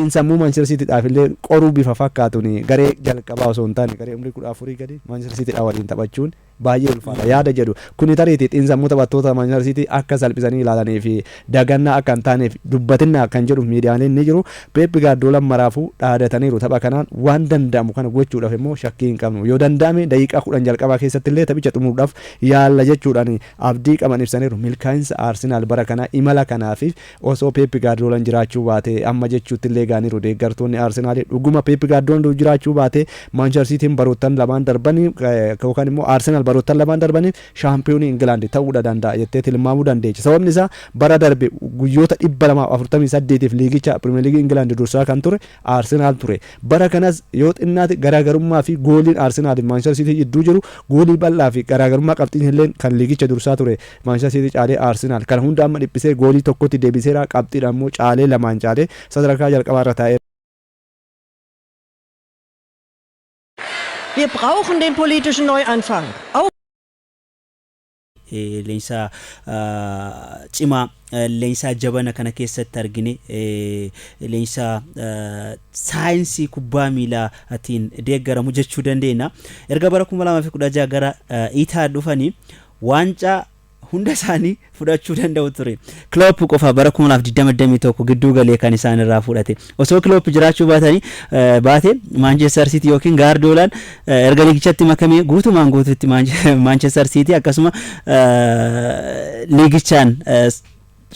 in sammuu Manchester City dhaaf illee qoruu bifa fakkaatuun garee jalqabaa osoo hin taane garee umrii 14 gadi Manchester City dhaa waliin taphachuun baay'ee ulfaata yaada jedhu kuni tariiti xiinsammuu taphattoota Manchester City akka salphisanii ilaalanii fi dagannaa akka hin taaneef dubbatinnaa kan jedhu miidiyaaleen ni jiru Peep Gaardoolan maraafuu dhaadataniiru tapha kanaan waan danda'amu kana gochuudhaaf immoo shakkii hin qabnu yoo danda'ame daqiiqaa 10 jalqabaa keessatti illee taphicha xumuruudhaaf yaalla jechuudhaan abdii qaban ibsaniiru milkaa'insa Arsenal bara kanaa imala kanaaf Osoo Peep Gaardiyoolan jiraachuu baatee amma jechuuttillee ga'aniiru deeggartoonni Arsenaalii. Dhuguma Peep Gaardiyoolan utuu jiraachuu baatee Maanchister Siitiin baroottan lamaan darban yookaan immoo Arsenaal baroottan lamaan darban shaampiyoonii Ingilaandi ta'uudha danda'a jettee tilmaamuu dandeecha. Sababni isaa bara darbe guyyoota 248f liigicha Pirimeer Liigii Ingilaandi dursaa kan ture Arsenaal ture. Bara kanas yoo xinnaate garaagarummaa fi gooliin Arsenaal fi Maanchistar Siitii jidduu jiru goolii bal'aa fi garaagarummaa qabxiin illeen kan liigicha dursaa ture Maanchistar Siitii caalee Arsenaal kana hunda amma dhiphisee goolii tokkotti deebiseera qabxiidhaan immoo caalee lamaan caalee sadarkaa jalqabaa irra taa'eera. Wir brauchen den politischen Neuanfang. Auch Leenjisaa cimaa leenjisaa jabana kana keessatti argine leenjisaa saayinsii kubbaa miilaatiin deeggaramu jechuu dandeenya. Erga bara 2016 gara Itaa dhufanii waancaa hunda isaanii fudhachuu danda'u ture. Kiloop qofa bara 2021 gidduu galee kan isaan irraa fudhate. Osoo Kiloop jiraachuu baatanii baate Maanchestar Siitii yookiin Gaardiyoolaan erga liigichatti makamee guutumaan guututti Maanchestar Siitii akkasuma liigichaan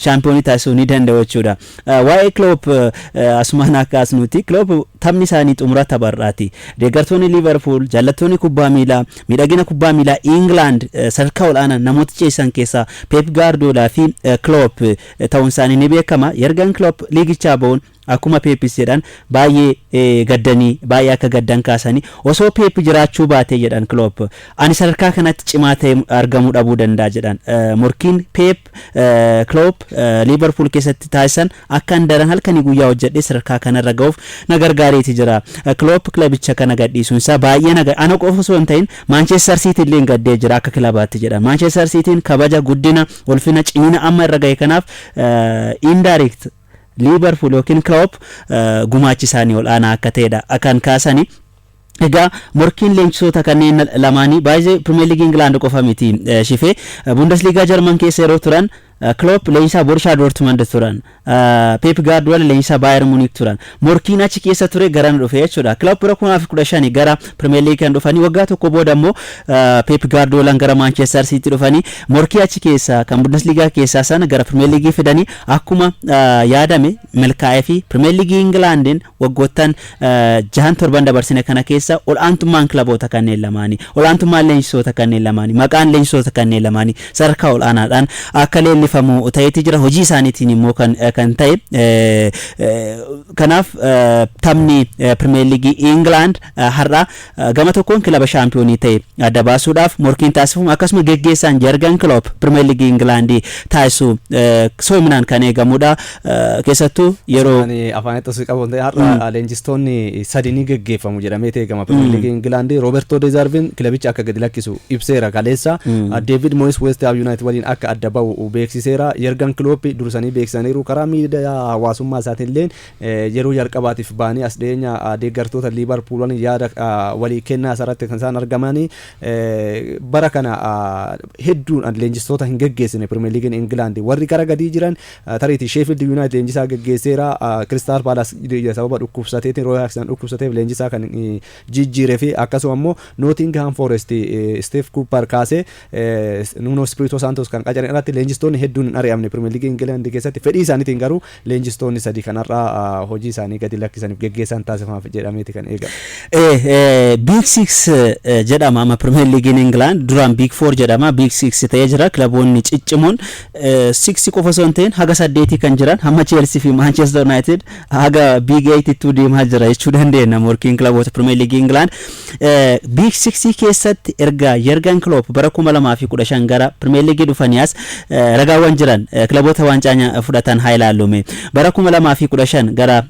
shaampiyoonii taasisuu ni danda'u jechuudha. Waa'ee Kiloop asumaan akka asnuuti Kiloop taphni isaanii xumura tapharraati. Deeggartoonni Liivarpuul, jaallattoonni kubbaa miilaa, miidhagina kubbaa miilaa Ingilaand sadarkaa ol'aanaan namoota ceesisan keessaa Peep Gaardiyoolaa fi Kiloop ta'uunsaanii ni beekama. Yergan Kiloop liigichaa ba'uun akkuma Peepis jedhan baay'ee gaddanii baay'ee akka gaddan kaasanii osoo Peep jiraachuu baatee jedhan Kiloop ani sadarkaa kanatti cimaa ta'ee argamuu dhabuu danda'a jedhan. Morkiin Peep Kiloop Liiverpuul keessatti taasisan akkan daran halkanii guyyaa hojjedhee sadarkaa kanarra ga'uuf na gargaareeti jira. Kiloop kilabicha kana gadhiisuunsaa baay'ee na ana qofa osoo hin ta'in Maanchestar Siitiin illee gaddee jira akka kilabaatti jedhan. Maanchestar Siitiin kabaja guddina Ulfina cimina amma irra gahe kanaaf indirect Liibarpuul yookiin Kiloop gumaachi isaanii ol'aanaa akka ta'edha kan kaasani. Egaa morkiin leenjisoota kanneen lamaanii baay'ee Pirimeer Liigii Ingilaand qofa miti shifee. Bundesliigaa Jarman keessa yeroo turan Kiloop leenjisaa Borishaa Doortimand turan. Peep Gaardiyola leenjisaa Baayer Muniik turan. Morkiin achi keessa ture garana dhufe jechuudha. Kilab bara 2015 gara Pirimeer Liigii kan dhufanii waggaa tokko booda immoo Peep Gaardiyoolaan gara Maanchestar Siitiitti dhufanii morkii achi keessaa kan Bundesliigaa keessaa sana gara Pirimeer Liigii fidanii akkuma yaadame milkaa'ee fi Pirimeer Liigii Ingilaandiin Waggoottan jahan torban dabarsine kana keessa ol'aantummaan kilaboota kanneen lamaanii, ol'aantummaan leenjisoota kanneen lamaanii, maqaan leenjisoota kanneen lamaanii sadarkaa ol'aanaadhaan akka leellifamu ta'eeti jira. Hojii isaaniitiin immoo kan kan ta'e. Kanaaf taphni Pirimeer Liigii Ingilaand har'a Gama tokkoon kilaba shaampiyoonii ta'e adda baasuudhaaf morkiin taasifamu akkasuma geggeessaan Jargan Kiloop Pirimeer Liigii Ingilaandii taasisu soominaan kan eegamudha. Keessattuu yeroo Ani afaan itti osoo qabu ta'e har'a leenjistoonni sadi ni geggeeffamu jedhamee eegama. Pirimeer Liigii Ingilaandii Roobertoo Deezaarviin kilabicha akka gadi lakkisu ibseera kaleessa. Deevid Mooyis Weest Haam Yuunaayitid waliin akka adda ba'u beeksiseera. Jargan Kiloop dursanii beeksisaniiru. Karaa miidiyaa hawaasummaa isaatiillee Yeroo jalqabaatiif ba'anii as dhiyeenya deeggartoota Liivarpuul waliin yaada walii kennaa isaarratti kan isaan argaman bara kana hedduun leenjistoota hin geggeessine Pirimeer Liigiin Ingilaandi warri gara gadii jiran tariitii Sheefiildi Yuunaayitid leenjisaa geggeesseera Kiristaal Paalaas sababa dhukkubsateetiin Rooy Haakisan dhukkubsateef leenjisaa kan jijjiiree fi akkasuma immoo Nootingihaam Fooresti Isteef Kuupar kaasee Nuunoo Ispiriitoo Saantoos kan qacaran irratti leenjistoonni hedduun hin ari'amne Pirimeer Liigii Ingilaandi keessatti fedhii isaaniitiin garuu leenjistoonni sadii kan har'a hojii isaanii gadi lakkisaniif geggeessaan taasifamaaf jedhameeti kan eegamu. Biig Siiks jedhama amma Pirimeer Liigiin Ingilaand duraan Biig Foor jedhama Biig Siiks ta'ee jira kilaboonni ciccimoon Siiks qofa osoo hin ta'in haga saddeetii kan jiran hamma Cheelsii fi Maanchester Yuunaayitid Haga Big Eightittuu deemaa jira jechuu dandeenya morkiin kilaboota Pirimeer Liigii Ingilaand. Big Siksii keessatti erga Yergan Kiloop bara 2015 gara Pirimeer Liigii dhufanii as ragaawwan jiran kilaboota waancaa fudhatan haa ilaallume. Bara 2015 gara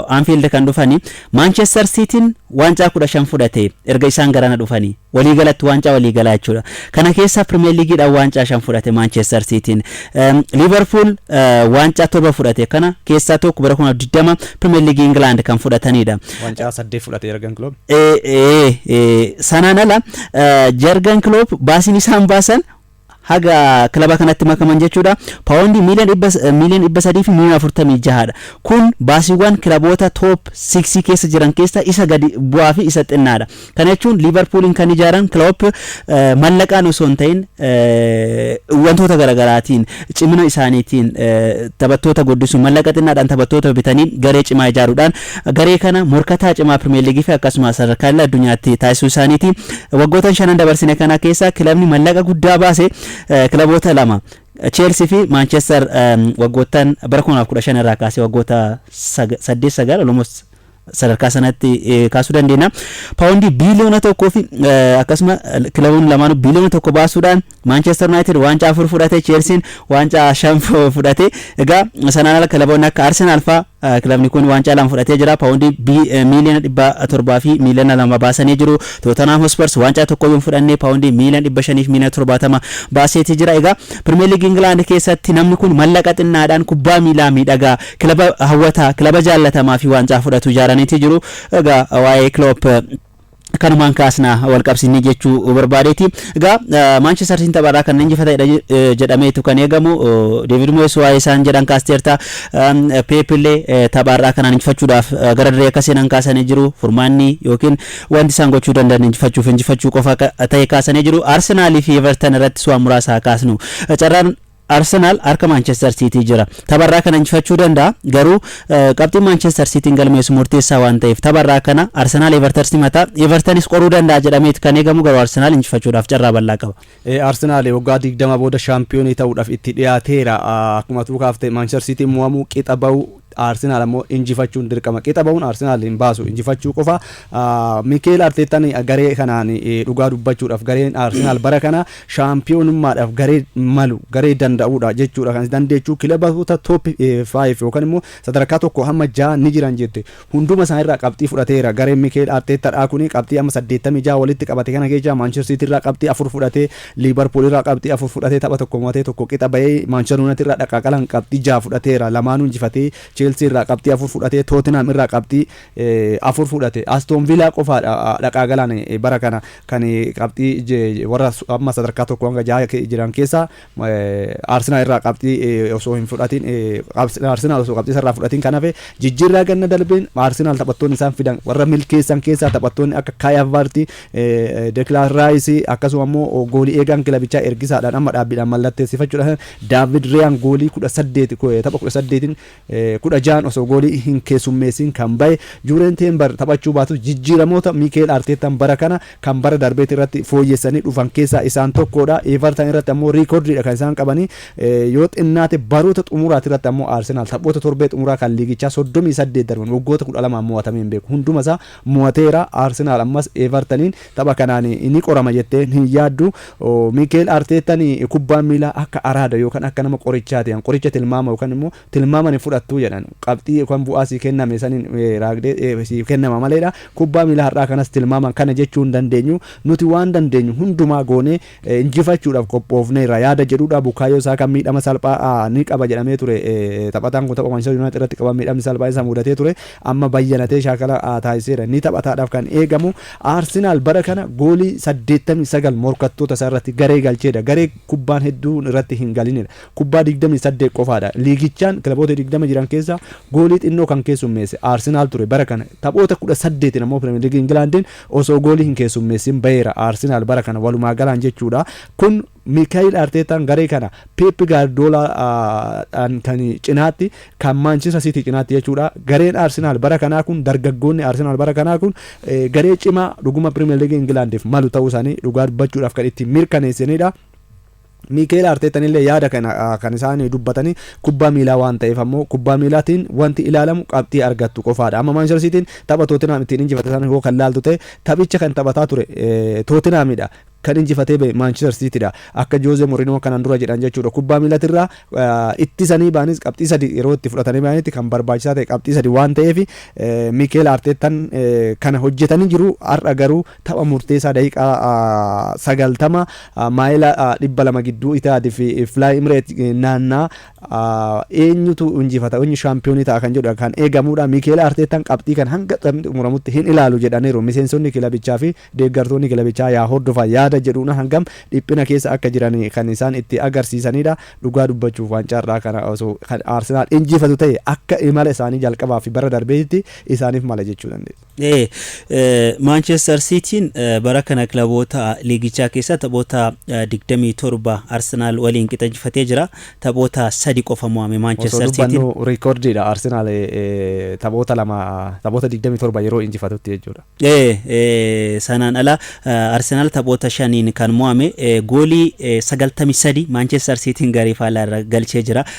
Anfield kan dhufanii Maanchestar Siitiin waancaa 15 fudhate erga isaan garana dhufanii. Waliigalatti waancaa waliigalaa jechuudha. Kana keessaa Pirimeer Liigiidhaan waancaa shan fudhate Maanchestar Siitiin. Liivarpuul waancaa torba fudhate. Kana keessaa tokko bara 2020 Pirimeer Liigii Ingilaand kan fudhatanidha. Waancaa saddeet fudhate Yargan Kiloob. Sanaan ala Yargan Kiloob baasiin isaan baasan haga kilaba kanatti makaman jechuudha. Paawondii miiliyoon dhibba sadii fi miiliyoon afurtamii jahaadha. Kun baasiiwwan kilaboota toop siiksii keessa jiran keessaa isa gadi bu'aa fi isa xinnaadha. Kana jechuun Liivarpuuliin kan ijaaran Kiloop mallaqaan osoo hin ta'in wantoota garaagaraatiin cimina isaaniitiin taphattoota guddisuun mallaqa xinnaadhaan taphattoota bitanii garee cimaa ijaaruudhaan Garee kana morkataa cimaa Pirimeer Liigiifi akkasumas sadarkaa idil addunyaatti taasisuu isaaniiti. Waggootan shanan dabarsine kana keessa kilabni mallaqa guddaa baase kilaboota lama Cheelsii fi Maanchester waggoottan bara 2015 irraa kaasee waggoota 8-9 almost sadarkaa sanatti kaasuu dandeenya. Paawundii biiliyoona tokkoo fi akkasuma kilaboonni lamaanuu biiliyoona tokko baasuudhaan Maanchester Yunaayitid waancaa afur fudhate, Cheelsiin waancaa shan fudhate. Egaa sanaan ala kilaboonni akka Arsenaal fa'aa kilabni kun waancaa lama fudhatee jira. Paawundii miiliyoona dhibba torbaa fi miiliyoona lama baasanii jiru. Tootanhaam Hospars waancaa tokkoyyuu hin fudhanne paawundii miiliyoona dhibba shanii fi miiliyoona torbaatama baaseeti jira. Egaa Pirimeer Liigii Ingilaand keessatti namni kun mallaqa xinnaadhaan kubbaa miilaa miidhagaa, kilaba hawwataa, kilaba jaallatamaa fi waancaa fudhatu ijaaraniiti jiru. Egaa waa'ee Kiloop kanumaan kaasna wal qabsiisnee jechuu barbaadeeti. Egaa Maanchester Siitiin tapharraa kan injifatedha jedhameetu kan eegamu. Deevid Moyes waa'ee isaan jedhan kaasteerta. Peep illee tapharraa kanaan injifachuudhaaf gara dirree akka seenan kaasanii jiru. Furmaanni yookiin wanti isaan gochuu danda'an injifachuuf injifachuu qofa ta'e kaasanii jiru. Arsenaalii fi Everton irrattis waan muraasa haa kaasnu. Carraan Arsenaal harka Maanchester Siitii jira. Tapha irraa kana injifachuu danda'a. Garuu qabxiin Maanchester Siitiin galmeessu murteessaa waan ta'eef tapha irraa kana Arsenaal Everter simata. Evertanis qoruu danda'a jedhameeti kan eegamu garuu Arsenaal injifachuudhaaf carraa bal'aa qaba. Arsenaal waggaa 20 booda shaampiyoonii ta'uudhaaf itti dhiyaateera. Akkuma atuu kaafte Maanchester Siitiin mo'amuu, qixa ba'uu, Arsenaal ammoo injifachuun dirqama. Qixa bahuun Arsenaal hin baasu. Injifachuu qofa. Mikeel Arteettaan garee kanaan dhugaa dubbachuudhaaf gareen Arsenaal bara kana shaampiyoonummaadhaaf garee malu garee danda'uudha jechuudha kan dandeechuu kilaboota toop 5 yookaan immoo sadarkaa tokko hamma ja'a ni jiran jette hunduma isaan irraa qabxii fudhateera gareen Mikeel Arteettaadhaa kun qabxii amma 86 walitti qabate kana keessaa Maanchester Siitiirraa qabxii afur fudhatee Liivarpuul irraa qabxii afur fudhatee tapha tokko mo'atee tokko qixa ba'ee, Maanchister Yuunaayitid irraa dhaqaaqalaan qabxii jaha fudhateera, lamaanuu injifatee, Cheelsii irraa qabxii afur fudhatee, Tootinhaam irraa qabxii afur fudhate. Astoon Viilaa qofaadha dhaqaaqalaan bara kana kan qabxii warra amma sadarkaa tokko hanga jaha jiran keessaa Arsenaal irraa qabxii osoo hin fudhatiin Arsenaal osoo qabxii irraa fudhatiin kan hafe jijjiirraa ganna darbeen Arsenaal taphattoonni isaan fidan warra milkeessan keessaa taphattoonni akka Kaayi Havartsi, Dekilaan Raayisi akkasuma immoo goolii eegaan kilabichaa ergisaadhaan amma dhaabbiidhaan mallatteessifachuudhaan Daavid Riyaan goolii kudha saddeeti tapha kudha saddeetiin kudha ja'an osoo goolii hin keessummeessiin kan bahe Juureen Teembar taphachuu baatus jijjiiramoota Miikeel Arteettaan bara kana kan bara darbeeti irratti fooyyessanii dhufan keessaa isaan tokkodha. Eevartan irratti ammoo riikordiidha kan isaan qabanii yoo xinnaate baroota xumuraati irratti ammoo Arsenaal taphoota torbee xumuraa kan liigichaa soddomii saddeet darban waggoota kudha lamaan mo'atamee hin beeku hundumasaa mo'ateera. Arsenaal ammas Eevartaniin tapha kanaan ni qorama jettee hin yaaddu. Miikeel Arteettan kubbaan miilaa akka araada yookaan akka nama qorichaati jedhan. Qoricha tilmaama yookaan immoo tilmaaman hin fudhattu jedhan. Qabxii yookaan bu'aa sii kenname saniin raagdee siif kennama maleedha. Kubbaa miilaa har'aa kanas tilmaaman kana jechuu hin dandeenyu. Nuti waan dandeenyu hundumaa goonee Injifachuudhaaf qophoofneerra yaada jedhudha. Bukaayoo Saakaan miidhama salphaa ni qaba jedhamee ture. Taphataan kun tapha Manchester United irratti qaban miidhamni salphaan isa mudatee ture. Amma bayyanatee shaakala taasiseera. Ni taphataadhaaf kan eegamu. Arsenaal bara kana goolii 89 morkattoota isaa irratti garee galcheedha. Garee kubbaan hedduun irratti hin galinidha. Kubbaa 28 qofaadha. Liigichaan kilaboota 20 jiran keessaa goolii xinnoo kan keessummeesse Arsenaal ture. Bara kana taphoota 18 ammoo Pirimeer Liigii Ingilaandiin Osoo goolii hin keessummeessin baheera Arsenaal bara kana walumaa galaan jechuudha. Kun Miikaayil Arteetaan garee kana Peep Gaardiyoolaadhaan kan cinaatti kan Maanchester Siitii cinaatti jechuudha. Gareen Arsenaal bara kanaa kun dargaggoonni Arsenaal bara kanaa kun garee cimaa dhuguma Pirimeer Liigii Ingilaandiif malu ta'uu isaanii dhugaa dubbachuudhaaf kan ittiin mirkaneessanidha. Miikeel Arteettanillee yaada kana kan isaan dubbatanii kubbaa miilaa waan ta'eef ammoo kubbaa miilaatiin wanti ilaalamu qabxii argattu qofaadha. Amma Maanchester Siitiin tapha Tootinhaam ittiin injifate sana yoo kan laaltu ta'e taphicha kan taphataa ture Tootinhaamidha. Kan injifatee ba'e Maanchester Siitidha. Akka Joozee Morinoo kanaan dura jedhan jechuudha. Kubbaa miilatirraa ittisanii ba'anis qabxii sadi yeroo itti fudhatanii ba'anitti kan barbaachisaa ta'e qabxii sadi waan ta'eef Miikeel Arteettan kana hojjetanii jiru har'a garuu Tapha murteessaa daqiiqaa 90 maayila 200 gidduu Itihaad fi Fly Imreet naannaa eenyutu injifata eenyu shaampiyoonii ta'a kan jedhu kan eegamudha. Miikeel Arteettaan qabxii kan hanga taphni xumuramutti hin ilaalu jedhaniiru. Miseensonni kilabichaa fi deeggartoonni kilabichaa yaa hordofan yaada jedhuun hangam dhiphina keessa akka jiran kan isaan itti agarsiisanidha. Dhugaa dubbachuuf waancaarraa kana osoo kan Arsenaal injifatu ta'e akka imala isaanii jalqabaa fi bara darbeetti isaaniif mala jechuu dandeessa. Maanchestar Siitiin bara kana kilaboota liigichaa keessa taphoota 27 Arsenaal waliin qixa injifatee jira. Taphoota sadi qofa mo'ame Osoo Maanchestar Siitiin. dubbannu riikoordiidha Arsenaal taphoota lama taphoota 27 yeroo injifatutti jechuudha. Ee, ee, sanaan ala eh, Arsenaal taphoota shaniin kan mo'ame eh, goolii eh, 93 Maanchestar Siitiin garee faallaa irra galchee jira.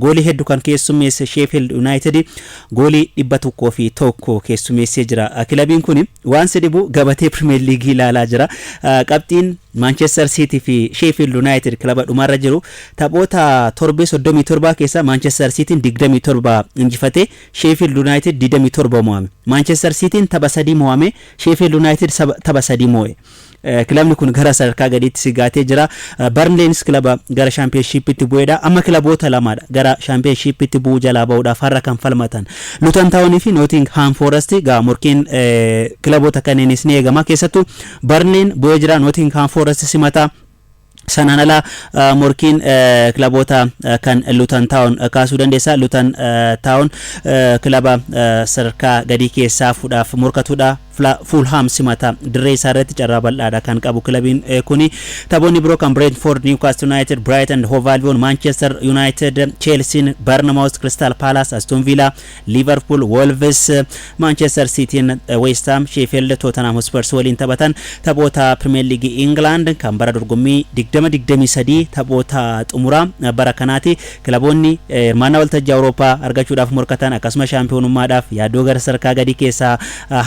Goolii heddu kan keessummeesse Sheefiild Yunaayitid goolii dhibba tokkoo fi tokko keessumeessee jira. Kilabiin kun waan si dhibu gabatee Pirimeer Liigii ilaalaa jira. Qabxiin Maanchester Siitii fi Sheefiild Yunaayitid kilaba dhumarra jiru. Taphoota torbee soddomii torbaa keessaa Maanchester Siitiin digdamii torba injifate, Sheefiild Yunaayitid digdamii torba mo'ame. Maanchester Siitiin tapha sadii mo'ame, Sheefiild Yunaayitid tapha sadii mo'e. Kilabni kun gara sadarkaa gadiitti sigaatee jira. Barnleenis kilaba gara shaampiyoonshiippiitti bu'eedha. Amma kilaboota lamaadha gara shaampiyoonshiippiitti bu'uu jalaa ba'uudhaaf har'a kan falmatan. Luton Town fi Nottingham Forest egaa morkiin kilaboota kanneenis ni eegama. Keessattuu Barnleen bu'ee jira. Nottingham Forest simata. Sanaan ala morkiin kilaboota kan Lutan Taawon kaasuu dandeessa. Lutan Taawon kilaba sadarkaa gadii keessaa fuudhaaf morkatudha. Fuulhaam simata dirree isaa irratti carraa bal'aadha kan qabu kilabiin kuni. Taphoonni biroo kan Brentford, Newcastle United, Brighton, Hove Albion, Manchester United, Chelsiin, Barnamouth, Crystal Palace, Aston Villa, Liivarpuul, Woolvis, Maanchester Siitiin, Weesthaam, Sheefiild, Tootanhaam Hospers waliin taphatan taphoota Pirimeer Liigii Ingilaand kan bara dorgommii 2023 taphoota xumuraa bara kanaati. Kilaboonni hirmaannaa waltajjii Awurooppaa argachuudhaaf morkatan akkasumas shaampiyoonummaadhaaf yaaddoo gara sadarkaa gadii keessaa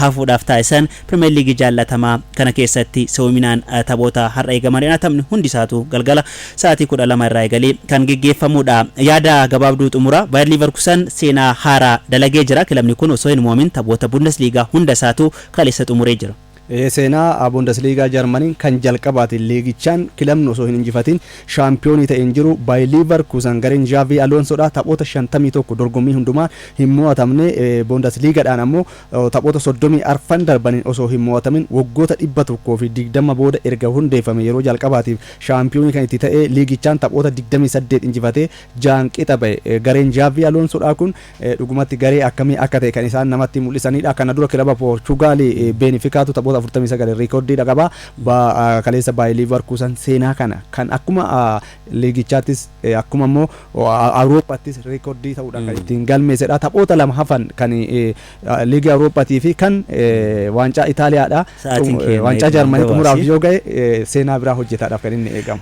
hafuudhaaf taasisan Pirimeer Liigii jaallatamaa kana keessatti si'oominaan taphoota har'a eegaman irraa taphni hundi isaatuu galgala sa'aatii 12 irraa eegalee kan geggeeffamudha. Yaada gabaabduu xumuraa, Baayar Liivarkusan seenaa haaraa dalagee jira. Kilabni kun osoo hin moo'amin taphoota Bundesliigaa hunda isaatuu kaleessa xumuree jira. Ee, seenaa Bundesliigaa Jarmaniin kan jalqabaati. Liigichaan kilabni osoo hin injifatin shaampiyoonii ta'e hin jiru. Baayar Liivarkusan gareen Xaavii Aloonsoodha. Taphoota 51 dorgommii hundumaan hin moo'atamne. Bundesliigadhaan ammoo Taphoota 30 arfan darbaniin osoo hin mo'atamin waggoota 120 booda erga hundeeffame yeroo jalqabaatiif shaampiyoonii kan itti ta'e liigichaan taphoota 28 injifatee 6n qixa ba'e. Gareen Zhaavi Aloonsoodhaa kun dhugumatti garee akkamii akka ta'e kan isaan namatti mul'isaniidha. Kana dura kilaba Poorchugaali Beenifikaatu taphoota 49n riikordiidha qaba. Kaleessa Baayee Liivarkuusan seenaa kana kan akkuma liigichaattis Akkuma immoo Awurooppaattis reekordii ta'uudhaan kan ittiin galmeessedha. Taphoota lama hafan kan liigii Awurooppaatii fi kan waancaa Itaaliyaadha. Sa'aatiin keenya Waancaa eeguma Jarmanii gabaasi. xumuraaf yoo ga'e seenaa biraa hojjetaadhaaf kan inni eegamu.